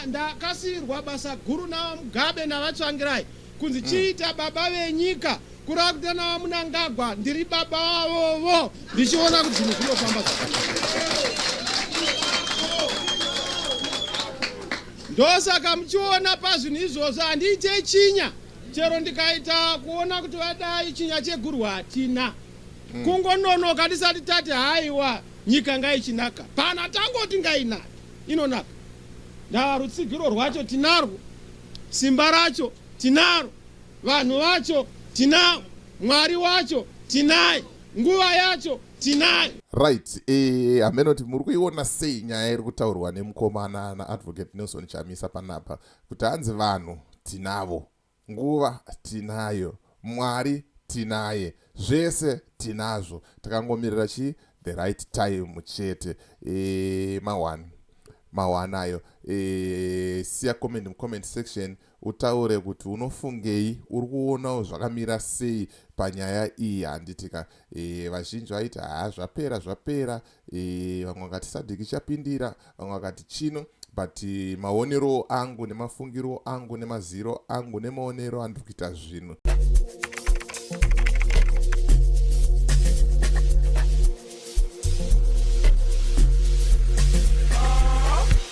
ndakasiirwa basa guru navamugabe navatsvangirai kunzi mm. chiita baba venyika kurakuta navamunangagwa ndiri baba vavovo ndichiona kuti zvinhu zvinofamba ndosaka muchiona pazvinhu izvozvo handiite chinya chero ndikaita kuona kuti vadai chinya chegurwa hatina mm. kungononoka tisati tati haiwa nyika ngaichinaka pana tangoti ngainaka inonaka. Ndaa rutsigiro rwacho tinarwo, simba racho tinaro, vanhu vacho tinavo, Mwari wacho tinaye, nguva yacho tinayo. Right, eh, hameno kuti muri kuiona sei nyaya iri kutaurwa nemukomana naAdvocate Nelson Chamisa panapa kuti hanzi vanhu tinavo Nguva tinayo, Mwari tinaye, zvese tinazvo takangomirira chii? The right time chete. Eeh ma one ma one ayo. Eeh siya comment mu comment section utaure kuti unofungei, uri kuonawo zvakamira sei panyaya iyi handiti ka. Eeh vazhinji vaiti haa zvapera zvapera e, vamwe vakati sadhiki chapindira vamwe vakati chino but eh, maonero angu nemafungiro angu nemaziro angu nemaonero andiri kuita zvinhu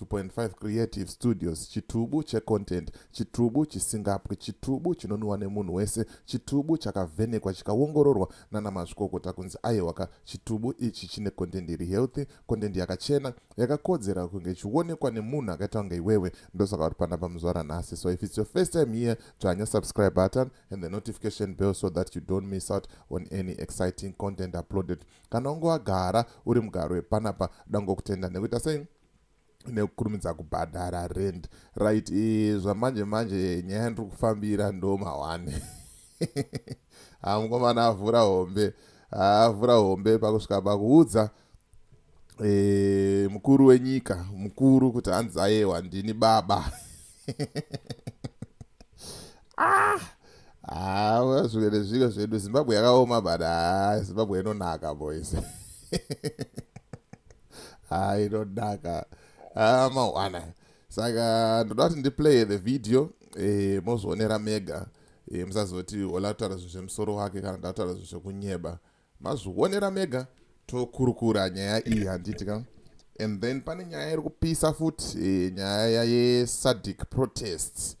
2.5 creative studios chitubu checontent chitubu chisingapwi chitubu chinonwiwa nemunhu wese chitubu chakavhenekwa chikaongororwa nana mazvikokota kunzi aiwaka chitubu ichi chine content iri healthy content yakachena yakakodzera kunge ichionekwa nemunhu akaita kunge iwewe ndosaka uri pana pamuzvara nhasi so if its your first time here dzvanya subscribe button and the notification bell so that you don't miss out on any exciting content uploaded Kana wange wagara uri mugari wepanapa dangokutenda nekuita sei nekukurumidza kubhadhara rend right e, zvamanje manje nyaya ndiri kufambira ndo mahwani ha mukomana avhura hombe avhura hombe pakusvika pakuudza e, mukuru wenyika mukuru kuti hanzi ayewa ndini baba ah ah zvimwe nezvimwe zvedu zimbabwe yakaoma but ah zimbabwe inonaka boys ah inonaka ah mawana saka ndoda kuti ndiplaye the video eh, mozvionera mega eh, musazoti olataura zvinhu zvemusoro wake kana ndataura zvinhu zvekunyeba mazvionera mega tokurukura nyaya iyi handiti ka and then pane nyaya iri kupisa futi e, nyaya yesadic protests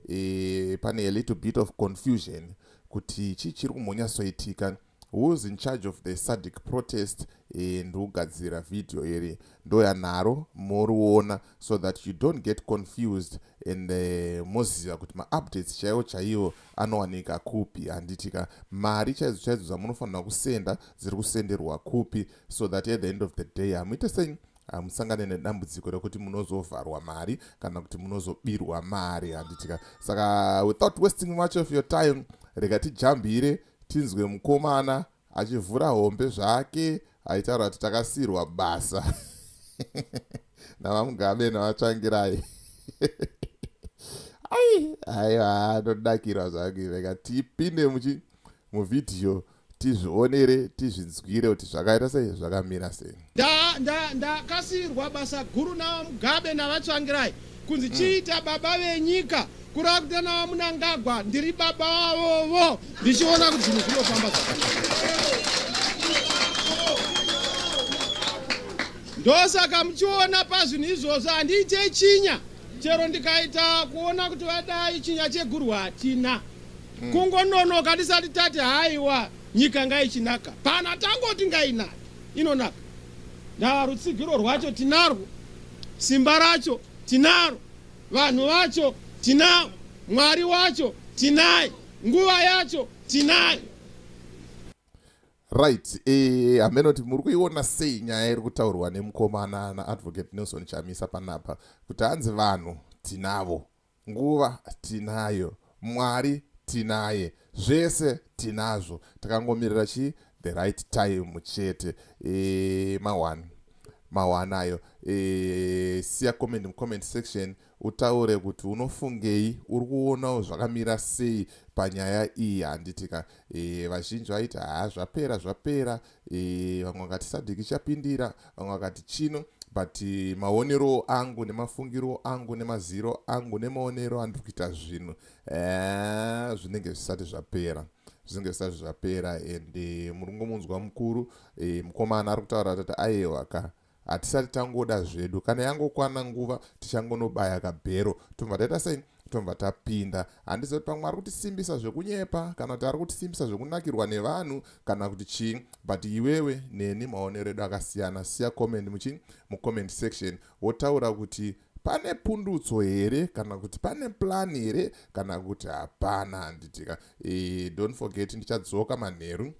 e, pane a little bit of confusion kuti chii chiri kumbonyatsoitika whois in charge of the sadic protest e, ndikugadzira vhidhiyo iri ndoyanharo moriona so that you don't get confused and uh, moziva kuti maupdates chaiwo chaiwo anowanika kupi handitika mari chaidzo chaidzo dzamunofanira kusenda dziri kusenderwa kupi so that at the end of the day hamuite sei hamusangane nedambudziko rekuti munozovharwa mari kana kuti munozobirwa mari handitika saka without wasting much of your time rega tijambire tinzwe mukomana achivhura hombe zvake aitaura kuti takasiirwa basa navamugabe navatsvangirai ai aiwa ndodakirwa zvangu rega tipinde muchi muvhidhiyo tizvionere tizvinzwire kuti zvakaita sei zvakamira sei Ndakasiirwa nda, nda, basa guru naVaMugabe naVaTsvangirai kunzi mm. chiita baba venyika kurava kuti naVaMunangagwa ndiri baba vavovo ndichiona kuti zvinhu zvinofamba ndosaka muchiona pazvinhu izvozvo handiite chinya chero ndikaita kuona kuti vadai chinya cheguru hatina mm. kungononoka tisati tati haiwa nyika ngaichinaka pana tangoti ngainaka inonaka ndava rutsigiro rwacho tinarwo simba racho tinaro vanhu vacho tinavo mwari wacho tinaye nguva yacho tinayo right eh, hameno kuti muri kuiona sei nyaya iri kutaurwa nemukomana naadvocate nelson chamisa panapa kuti hanzi vanhu tinavo Nguva tinayo, Mwari tinaye, zvese tinazvo takangomirira chii the right time chete eeh ma one ma one ayo eeh siya comment mu comment section utaure kuti unofungei uri kuonawo zvakamira sei panyaya iyi handiti ka eeh vazhinji vaiti haa zvapera zvapera e, vamwe vakati sadhiki chapindira vamwe vakati chino but eh, maonero angu nemafungiro angu nemaziro angu nemaonero andiri kuita zvinhu eh, zvinenge zvisati zvapera zvinenge zvisati zvapera and eh, muri ngomunzwa mukuru mukomana ari kutaura tati ayewa ka hatisati tangoda zvedu kana yangokwana nguva tichangonobaya kabhero tobva taita sei tobva tapinda handiziva kuti pamwe ari kutisimbisa zvekunyepa kana kuti ari kutisimbisa zvekunakirwa nevanhu kana kuti chii but iwewe neni maonero edu akasiyana siya comment muchii mucomment section wotaura kuti pane pundutso here kana kuti pane plan here kana kuti hapana handitika e, eh, don't forget ndichadzoka manheru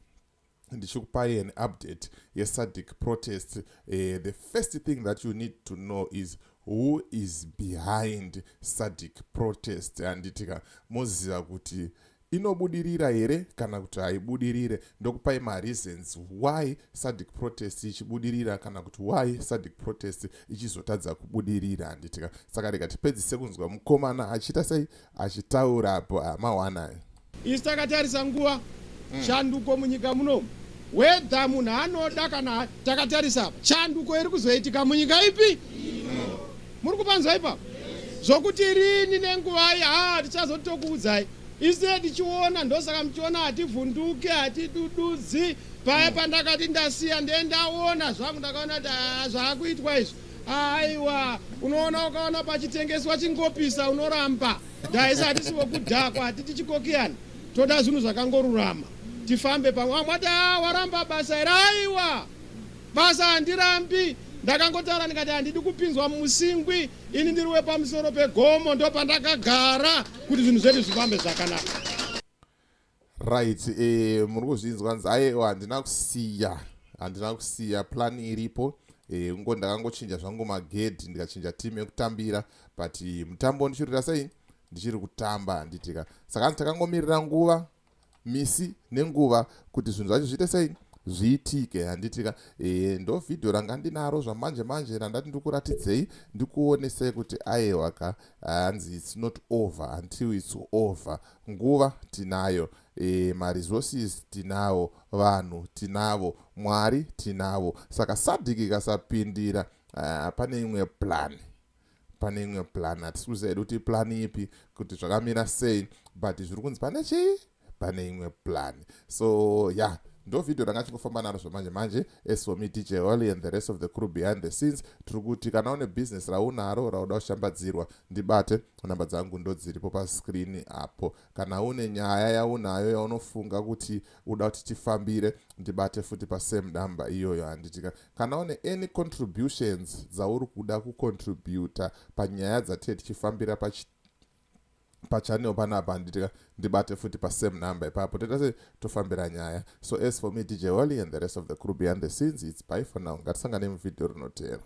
ndichikupai an update yesadic protest eh, the first thing that you need to know is who is behind sadic protest handitika moziva kuti inobudirira here kana kuti haibudirire ndokupai mareasons why sadic protest ichibudirira kana kuti why sadic protest ichizotadza kubudirira handitika saka rega tipedzise kunzwa mukomana achiita sei achitaura apo amawanai isu takatarisa nguva mm. shanduko munyika munomu wedha munhu anoda kana takatarisa apa shanduko iri kuzoitika munyika ipi mm. muri kupanzwa ipapo zvokuti rini nenguvai haa tichazotokuudzai ise tichiona ndosaka muchiona hativhunduke hatidududzi paya pandakati ndasiya ndendaona zvangu ndakaona kuti haa zvaakuitwa izvi aiwa unoona ukaona pachitengeswa chingopisa unoramba ndaisa hatisi vokudhakwa hatiti chikokiyani toda zvinhu zvakangorurama tifambe pamwe vamwe ati a waramba basa iri aiwa basa handirambi ndakangotaura ndikati handidi kupinzwa mumusingwi ini ndiri wepamusoro pegomo ndopandakagara kuti zvinhu zvedu zvifambe zvakanaka right eh, muri kuzvinzwa nzi ayewa handina kusiya handina kusiya plan iripo eh, ngo ndakangochinja zvangu magedhi ndikachinja team yekutambira but eh, mutambo ndichirira sei ndichiri kutamba handitika saka anzi takangomirira nguva misi nenguva kuti zvinhu zvacho zviite sei zviitike handitika e, ndo vhidhiyo ranga ndinaro zvamanje manje randati ndikuratidzei ndikuonesei kuti ayewa ka hanzi its not over until its over Nguva tinayo, e, maresources tinawo, vanhu tinavo, Mwari tinavo. Saka sadhiki ikasapindira uh, pane imwe plan pane imwe plan hatisi kuziva hedu kuti plan ipi kuti zvakamira sei but zviri kunzi pane chii pane imwe plan so ya yeah ndo vhidhiyo ranga chingofamba naro zvamanje manje esomi dj holy and the rest of the crew behind the scenes tiri kuti kana une bhizinesi raunaro rauda kushambadzirwa ndibate namba dzangu ndodziripo pascreen apo kana une nyaya yaunayo yaunofunga kuti uda kuti tifambire ndibate futi pasame namba iyoyo handitika kana une any contributions dzauri kuda kucontributa panyaya dzatee tichifambira pachi pachanel panapa handitika ndibate futi pasame number ipapo toita se tofambira nyaya so as for me dj holly and the rest of the crew behind the scenes its by for now ngatisangane muvhidhiyo rinoteera